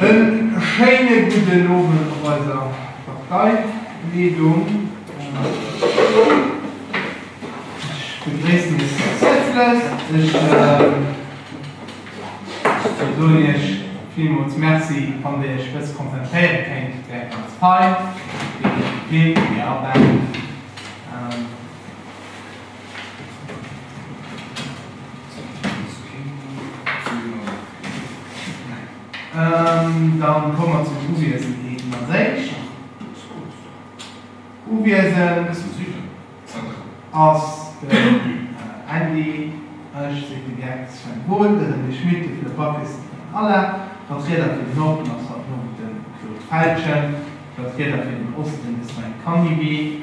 En schéine gudden Owend op eiser Parteileedung. Ech begréissen Iech ganz häerzlech. Ech soen Iech villmools Merci, wann Der Iech bësse konzentréiere kéint op Är ganz fei, déi DP, déi mir abaut. Dann komme mer zum Uwiesen eeben als éischt. Uwiesen ass den Andy, ech sinn de Geck, Sven Pol, de René Schmit, de Fleur Backes an den Alain. Vertrieder fir den Norden ass haut Nuecht de Claude Felgen. Vertrieder fir den Osten de Sven Canivi.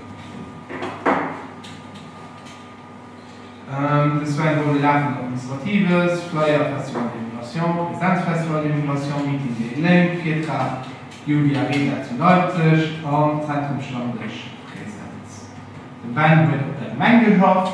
Den Sven wollt e laafend Administratives, Flyer, Festival de l'Immigration, Präsenz-Festival de l'Immigration, Meeting géint d'Lénk, Virtrag, Julia Reda zu Leipzeg an Zentrum Stammdësch-Präsenz. De Ben huet op der Gemeng geschafft.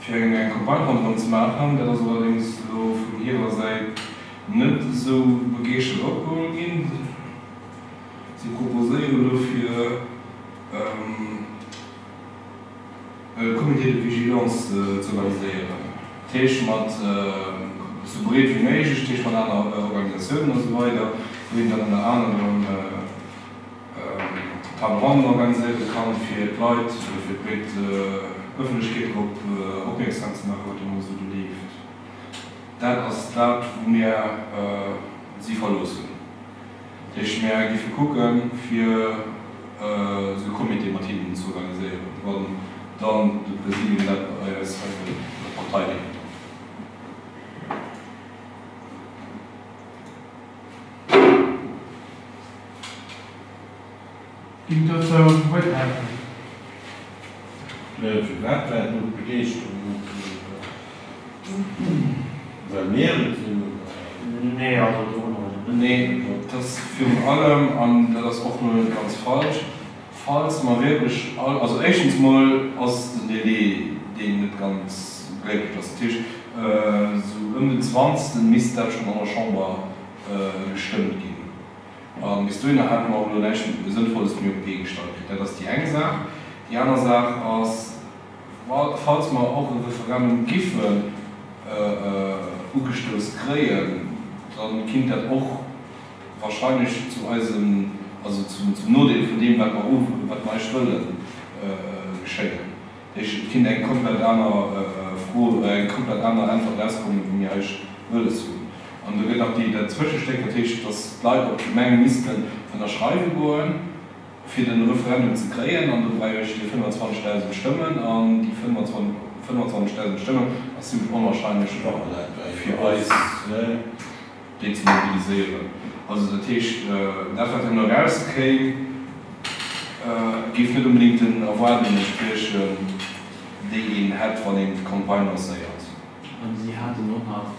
fir eng eng Campagne ronderëm ze maachen. Dat ass allerdéngs elo vun hirer Säit net esou begeeschtert opgeholl ginn. Si proposéieren dofir e Comité de vigilance ze organiséieren, dat heescht mat esou breet wéi méiglech, dat heescht mat aner Organisatiounen a sou weider, wou een dann ënner anerem, D'Table ronde organiséiert de Camp fir d'Leit oder fir d'breet Ëffentlechkeet drop opmierksam ze maachen, wat de Moie sou do leeft. Dat ass dat, wou mir si verloossen. Dat heescht, mir géife kucke fir esou e Comité mat hinnen ze organiséieren, wann dann de Präsidium dat bei eis hei wëll verteidegen. Ginn dozou Wuert melden? Firwat war do d'Begeeschterung net esou grouss? Well mir et sinn, oder? Nee, also do hunn mer eis e bëssen virgedroen. Nee, dat ass virun allem, an dat ass och elo net ganz falsch, falls mer wierklech all, also éischtens emol ass den Délai, deen net ganz glécklech ass, dat heescht, esou ëm den Zwanzegsten misst dat schonn an der Chamber, gestëmmt ginn. A bis dohinner hate mer och elo näischt Sënnvolles méi op d'Bee gestallt kritt. Dat ass déi eng Saach. Déi aner Saach ass, falls mer och e Referendum giffen ugestouss kréien, da kinnt dat och wahrscheinlech zu eisem, also zum Nodeel vun deem, wat mer eischt wëllen, geschéien. Ech kinn eng komplett aner Fro, eng komplett aner Äntwert erauskommen, wou mir eis wëlles hunn. An do gëtt nach déi, dat Zwëschestéck, dat heescht, datt d'Leit op d'Gemeng missten ënnerschreiwe goen, fir de Referendum ze kréien. An do brauch ech déi 25.000 Stëmmen. An déi 25.000 Stëmmen ass zimmlech onwahrscheinlech fir eis. déi ze mobiliséieren. Also dat heescht, dat wat herno erauskéim, géif net onbedéngt den Erwaardungen entspriechen, déi een hätt, wann een d'Campagne lancéiert. A si haten och nach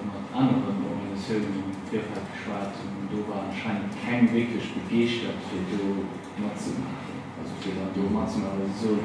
mat aneren Organisatiounen am Virfeld geschwat, an do war anscheinend keng wierklech begeeschtert, fir do matzemaachen. Also fir dann do matzemaachen, well si soen,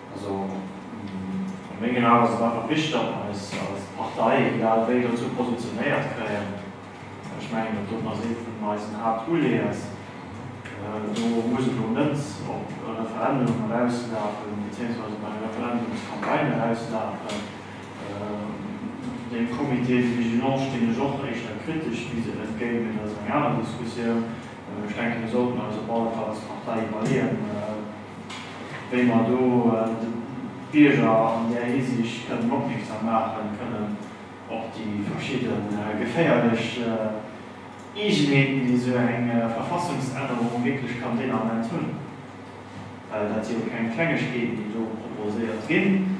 Also a mengen Aen ass et einfach wichteg, datt mer eis als Partei egal wéi dozou positionéiert kréien. Ech mengen datt dat ass ee vun eisen Haaptuleeës. Do muss et elo net op e Referendum erauslafen, beziéiungsweise op eng Referendumscampagne erauslafen. Dem Comité de vigilance stinn ech och éischter kritesch bis ewell entgéint, mee dat ass eng aner Diskussioun. Ech denken, mir sollten eis op alle Fall als Partei iwwerleeën, wéi mer do de Bierger an där Hisiicht kënnen opmierksam maachen, kënnen op déi verschidde geféierlech Eegenheeten, déi esou eng Verfassungsännerung wierklech kann deen Ament hunn, well dat si jo keng Klengegkeeten, déi do proposéiert ginn.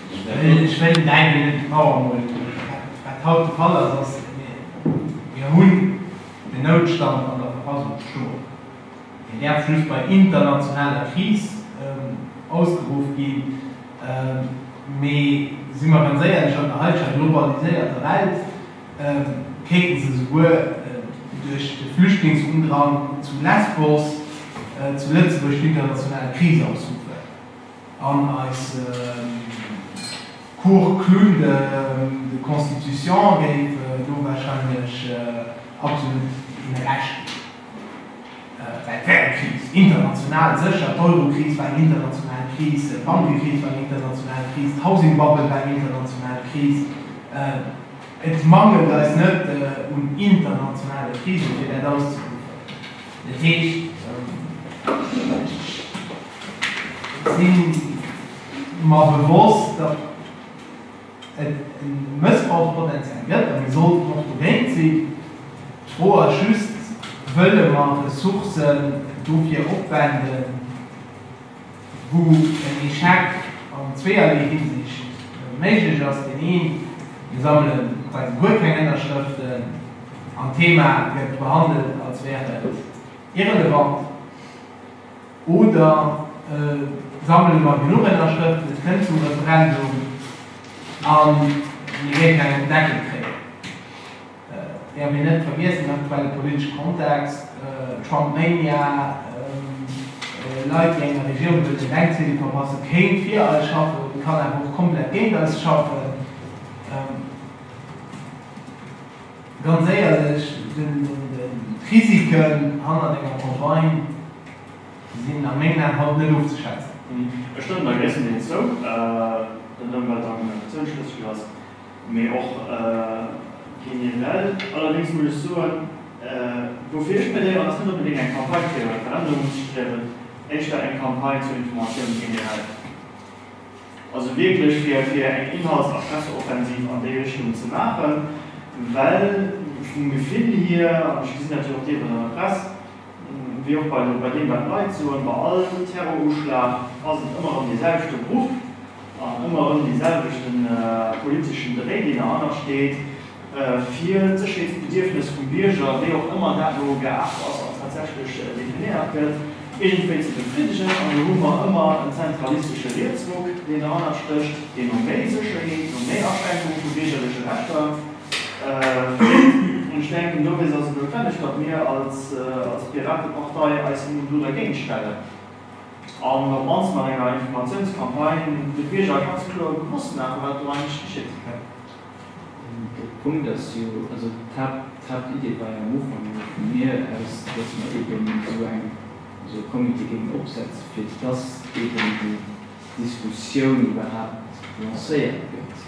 Ech wëll näimen net nochmol wat haut de Fall ass, ass, Mir hunn den Noutstand an der Verfassung stoen. Deen däerf just bei internationaler Kris ausgeruff ginn. Mee si mer ganz éierlech, an der heiteger globaliséierter Welt kéinte se souguer duerch de Flüchtlingsundrang zu Lesbos zu Lëtzebuerg d'international Kris ausruffen. An eise Cours Clown de Constitution géif en do warscheinlech absolut him Recht ginn, well et wär eng Kris, international sécher, d'Eurokris war eng international Kris, d'Bankekris war eng international Kris, d'Housing Bubble war eng international Kris. Et mangelt eis net un internationale Krisen, fir dat auszeruffen. Dat heescht, ech si mer bewosst, datt et e Mëssbrauchspotential gëtt a mir sollten och dogéint sinn. D'Fro ass just, Wëlle mer Ressourcen dofir opwenden? wou en Echec an zweeërlee Hinsicht méiglech ass, deen een, mir sammele quasi guer keng Ënnerschrëften an d'Thema gëtt behandelt als wär et irrelevant, oder e sammele mer genuch Ënnerschrëften, et kënnt zum Referendum a mir géifen engem Deckel kréien. Während mir net vergiessen, den aktuelle politesche Kontext, Trumpmania, Leit, déi enger Regierung wëllen den Denkzettel verpassen, kéint fir eis schaffen, mee kann awer och komplett géint eis schaffen. Ganz éierlech, d'Risiken hannert enger Campagne sinn a mengen Aen haut net ofzeschätzen. Ech stëmmen der gréisstendeels zou, den Ëmweltengagement ass zouschlësseg. Mee och generell. Allerdéngs muss ech soen, woufir ech plädéieren, ass net onbedéngt eng Campagne fir e Referendum unzestrieben, éischter eng Campagne zur Informatioun generell. Also wierklech fir eng Inhalts a Presseoffensiv an déi Richtung ze maachen, well vum Gefill hier, an ech gesinn dat jo och deelweis an der Press, wéi och bei deem wat d'Leit soen, bei all Terroruschlag ass et ëmmer erëm dee selwechte Bruch. an ëmmer erëm dee selwechte politeschen Dréi, deen derhannert steet, fir d'Sécherheetsbedierfnes vum Bierger, wéi och ëmmer dat elo gearft ass an tatsächlech definéiert gëtt, iergendwéi ze befriddegen. An do hu mer ëmmer en zentralistesche Rietsruck, deen derhannert stécht, dee no méi Sécherheet, no méi Aschränkung vu biergerleche Rechter freet. An ech denken, dowéinst ass et noutwenneg, datt mir als Piratepartei eis elo do dergéint stellen. an op mannst mat enger Informatiounscampagne de Bierger ganz kloer bewosst maachen, wat do eigentlech geschitt. De Punkt ass jo, also d'Haaptidee war jo am Ufank emol vu mir aus, dass mer eeben esou eng, esou e Comité géingen opsetzen, fir dass eeben déi Diskussioun iwwerhaapt lancéiert gëtt.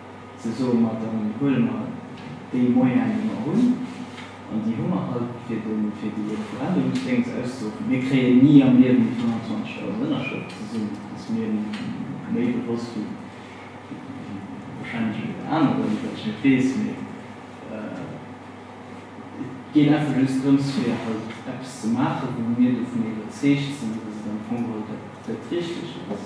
Ze soe mer, dann huele mer déi Moyene, déi mer hunn, an déi hu mer halt fir de fir déi Referendumsdéngs auszeruffen. Mir kréien ni am Liewen déi 25.000 Ënnerschrëften zesummen, ass mir méi bewosst wéi warscheinlech eeler aneren, wat ech net weess. Mee et geet einfach just drëms, fir halt eppes ze maachen, wou mir dovun iwwerzeegt sinn, dass et am Fong geholl dat Richtegt ass.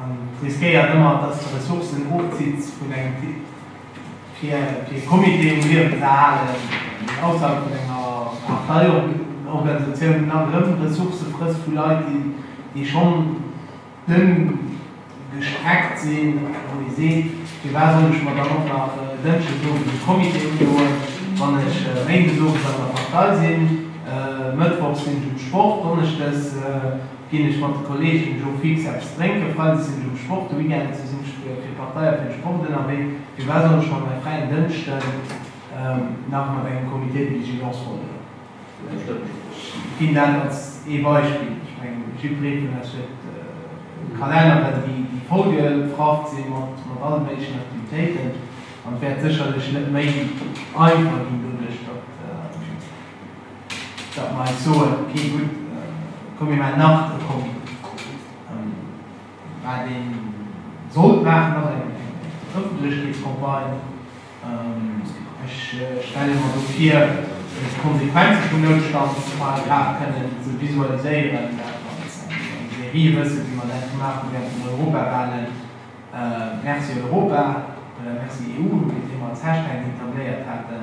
Et riskéiert ëmmer, dass et Ressourcen ofzitt vun engem fir e Comité um Liewen ze halen, een ausserhalb vun enger Parteiorganisatioun, nach erëm Ressourcë frësst vu Leit, déi schonn dënn gestreckt sinn, wou ee seet, firwat soll ech mer dann och nach dënschdesowes e Comité undoen, wann ech méindesowes an der Partei sinn, mëttwochs sinn ech um Sport, donneschdes. Ginn ech mat de Kolleegen de Jour fix eppes drénken? Freides sinn ech um Sport, de Weekend sinn ech fir d'Partei a fir de Sport ënnerwee. Firwat sollt ech mer mäi fräien Dënschden nach mat engem Comité de vigilance vollhuelen? Ech ginn dat als ee Beispill. Ech mengen, jiddweree vun eis huet Kalenneren, déi vollgeprafft si mat alle méiglechen Aktivitéiten. An et wäert sécherlech net méi einfach ginn doduerch, datt. datt mer eis soen, okay, gutt, komm mir maachen nach e Comité. Wat ee sollt maachen, ass eng Ëffentlechkeetscampagne. Ech stelle mer do vir, fir d'Konsequenze vum Noutstandsparagraf kënnen ze visualiséieren, dat als eng Serie, wëssen, wéi mer dat gemaach hu während den Europawahlen, Merci Europa oder Merci EU, wéi se ee mer als Hashtag etabléiert haten.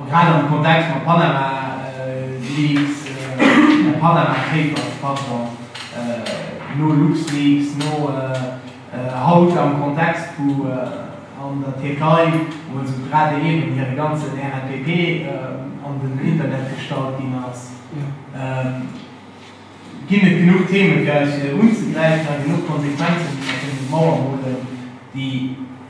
A grad am Kontext mam Panama Leaks, mam Panama Papers, pardon, no LuxLeaks, no haut am Kontext wou an der Tierkei mol sou grad eben hire ganzen RNPP an den Internet gestallt ginn ass, ginn et genuch Themen fir eis fir unzegräifen a genuch Konsequenzen, déi mer kënnen op d'Mauer molen, déi.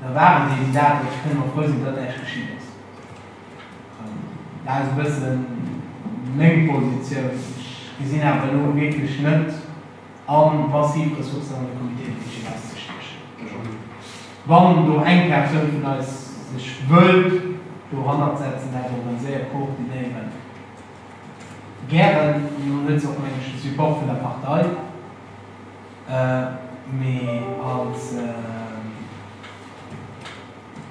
Da war et eben dat, wat ech kënne mer frou sinn, datt näischt geschitt ass. Dat ass e bësse meng Positioun. Ech gesinn awer elo wierklech net an, massiv Ressourcen an de Comité de vigilance ze stiechen. Wann do eng Persoun vun eis sech wëllt dohannert setzen, dat organiséiert, koordinéieren, gären. Mir hunn dozou och, meng ech, de Support vun der Partei. Mee als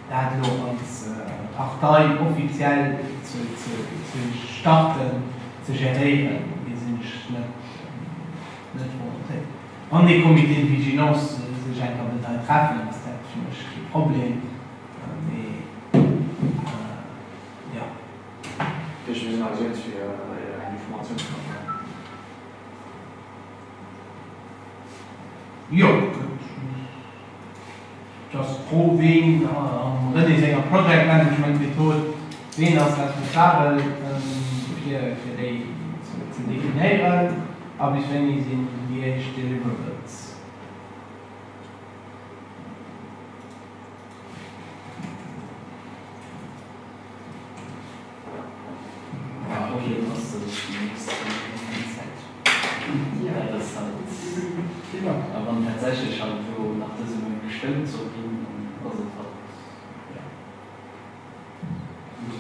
dat elo als Partei offiziell ze starten, ze geréieren, dee sinn ech net volontéiert. Wann dee Comité de vigilance sech eng Kéier wëllt hei treffen, ass dat fir mech kee Problem. Mee jo. Dee Comité de vigilance ass just fir eng Informatiounscampagne. Jo, et ass d'Fro, ween am René senger Project Management Method, ween ass responsabel fir déi ze definéieren a bis wéini sinn déi éischt Deliverables.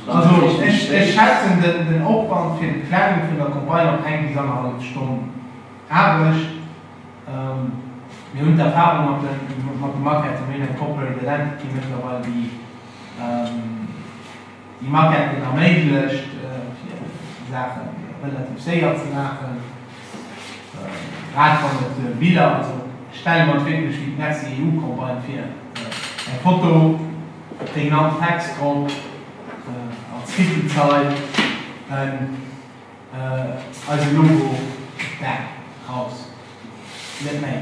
Also ech schätzen den Opwand fir d'Planung vun der Campagne op eng bis annerhallef Stonn Aarbecht. Mir hunn d'Erfahrung mat de Maquetten, mir hunn eng Corporate Identity mëttlerweil, déi. Déi Maquette gëtt erméiglecht fir Saachen relativ séier ze maachen, grad wann et Biller, also ech stelle mer et wierklech wéi d'Merzi EU-Campagne vir, eng Foto, e prägnant Text drop, als Titelzeil en eise Logo, bam, raus, net méi.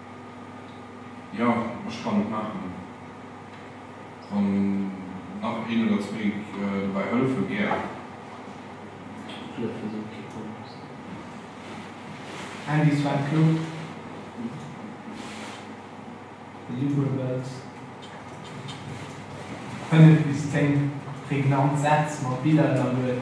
jo, ech kann et maachen. Wann nach een oder zwee dobäi hëllefen, gär. Flott wéi se op kee komm ass. Andy Sven Claude Deliverables 5 bis 10 prägnant Sätz mat Biller ënnerluet.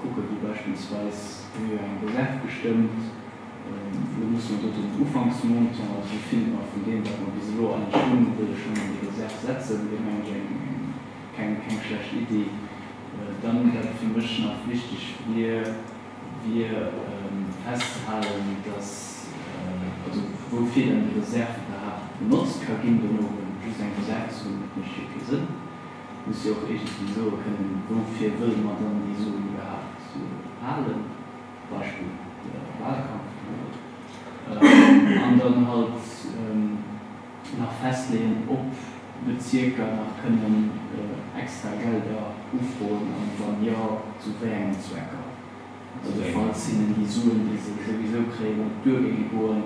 Kucken, wéi beispillsweis wéi eng Reserv gestëmmt hunn, muss mer do den Ufanksmontant, also de Findber vun deem, wat mer bis elo eigentlech hunn, wëlle schonn an déi Reserv setzen. Dat meng ech eng keng keng schlecht Iddi. Dann, wat fir mech nach wichteg wier, wier festzehalen, dass, also woufir dann déi Reserv iwwerhaapt benotzt ka ginn dono. Well just eng Reserv ze hunn, dat mécht jo kee Sënn. muss jo och iergendwéi soe kënnen, woufir wëlle mer dann déi Suen iwwerhaapt halen, Beispill Wahlkampf, an dann halt nach festleeën, ob Bezierker nach kënnen extra Gelder ufroen an wann jo, zu wéi engen Zwecker. Also falls hinnen déi Suen, déi se souwisou kréien, an d'Duer géinge goen,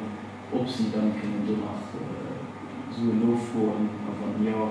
ob si dann kënnen do nach Suen nofroen a wann jo,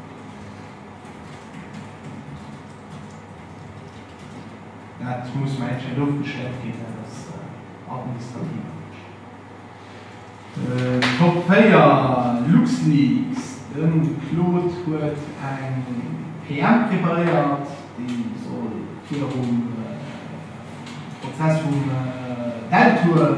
Dat muss mer endlech elo ofgeschléckt ginn, dat ass administrativ Aarbecht. Top 4, LuxLeaks, De Claude huet eng PM preparéiert, déi soll virum Prozess vum Deltour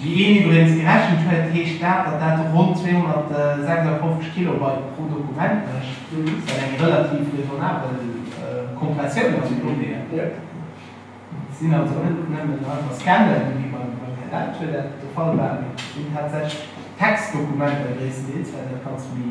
Wéi een iwwregens gerechent huet, heescht dat, datt dat ronn 256 Kilobyte pro Dokument mécht, wat eng relativ raisonnabel Kompressioun ass vun Donnéeën. Et sinn also net nëmmen einfach Scannen, wéi beim Här Deltour dat de Fall war, mee et sinn tatsächlech Textdokumenter gréisstendeels, well dat ganz méi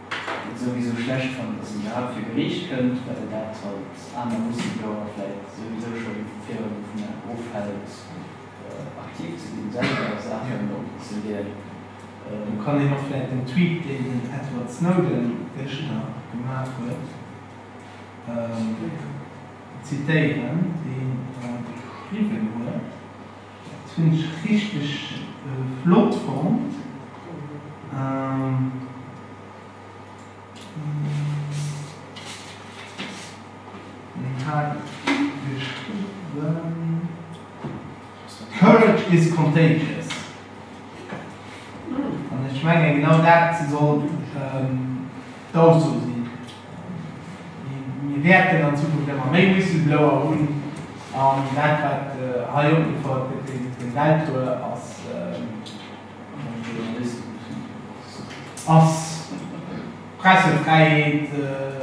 souwisou schlecht fannt, datt en iwwerhaapt fir Geriicht kënnt, well en dat als aner Whistleblower vläit souwisou scho virdrun dovun ofhält, aktiv ze ginn, selwer Saachen opzeleeën. Do kann een och vläit den Tweet, deen den Edward Snowden gëschter gemaach huet, zitéieren, deen e geschriwwen huet. Dat hunn ech richteg flott fonnt. Wien hat geschriwwen? Courage is contagious. An ech menge genau dat soll d'Ausso sinn. Mir wäerten an Zukunft ëmmer méi Whistleblower hunn, an dat, wat hei opgefouert gëtt, den Deltour, ass d'Pressefräiheet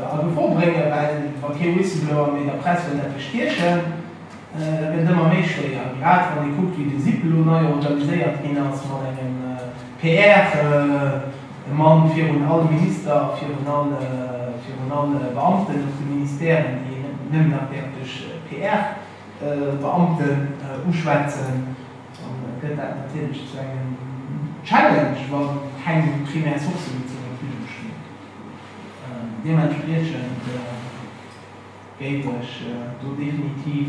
a Gefor bréngen, well wa kee Whistleblower méi der Press wëllt eppes stiechen, da gëtt et ëmmer méi schwéier. An grad wann ee kuckt, wéi de SIP elo nei organiséiert ginn ass, mat engem PR. De Mann virun all Minister a virun all virun all Beamten op de Ministèren, déi een net nëmmen nach däerf duerch PR Beamten uschwätzen, dann gëtt dat natierlech zu engem Challenge, wa keng primär Sourcë méi zur Verfügung stinn. Deementspriechend géif ech do definitiv.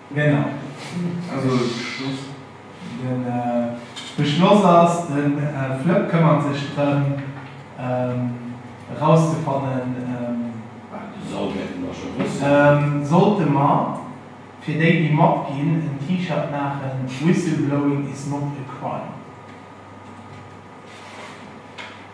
Genau. Also just den Beschloss ass, de Flëpp këmmert sech drëm erauszefannen, sollte mer fir déi déi matginn en T-Shirt maachen, Whistleblowing is not a crime.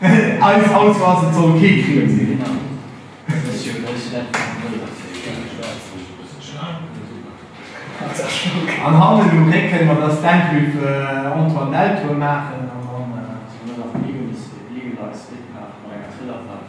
Eis Ausso ass, et soll kee Crime sinn. An hannen um Récken, ma dass d'Enquête vu Antoine Deltour maachen an dann.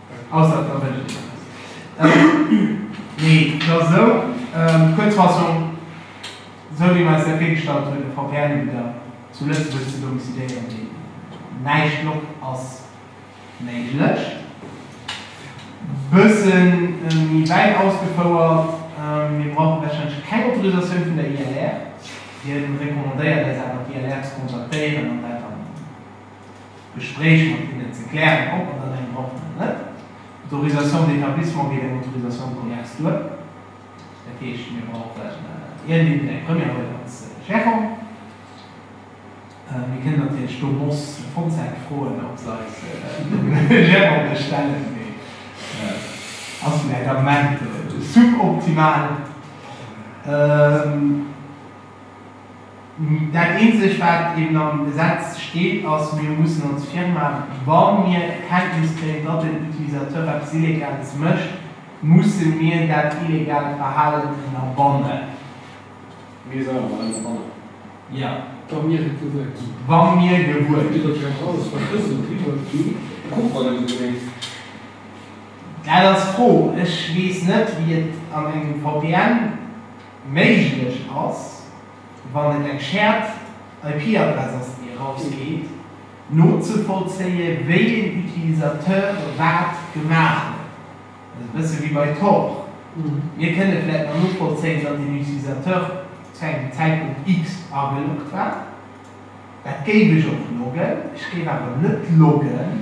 Ausser et erwënscht een eppes. Mee et ass esou, Kuerzfassung, esou wéi mer eis dat virgestallt hunn, e VPN-Ubidder zu Lëtzebuerg ze domiciliéieren, deen näischt loggt, ass méiglech. Bësse méi wäit ausgefouert, Mir brauche warscheinlech keng Autorisatioun vun der ILR. Hien recommandéiert eis awer, d'ILR ze kontaktéieren an dat dann. Gespréich mat hinnen ze klären, ob an an engem Ort oder net. D'Autorisation d'établissement geet eng Autorisation de commerce duer. Dat heescht, mir brauchen iergendeen, eng Première Residence Gérant. Mir kënnen natierlech do Moss Fontaine froen, ob se eis de Gérant bestellen, mee ass vläicht am Moment suboptimal. Dat eenzegt wat eben am Gesetz steet ass, mir mussen als Firma, wa mir Kenntnis kréien, datt en Utilisateur eppes Illegales mécht, musse mir dat illegaalt Verhalen ënnerbannen. Mir selwer mat ënnerbannen. Jo. Wa mir et gewuer ginn. Wa mir gewuer ginn. Iwwert Iech alles verschlësselt driwwer ginn. Kuck wann du se mengs. Dat ass d'Fro. Ech weess net wéi et an engem VPN. Méiglech ass, wann et eng Shared IP-Adress ass, déi erausgeet, nozevollzéie wéi een Utilisateur wat gemaach huet. Dat ass e bësse wéi bei Tor. Mir kënne vläicht nach novollzéien, datt een Utilisateur zu engem Zäitpunkt X ageloggt war. Dat géif ech och loggen. Ech géif awer net loggen.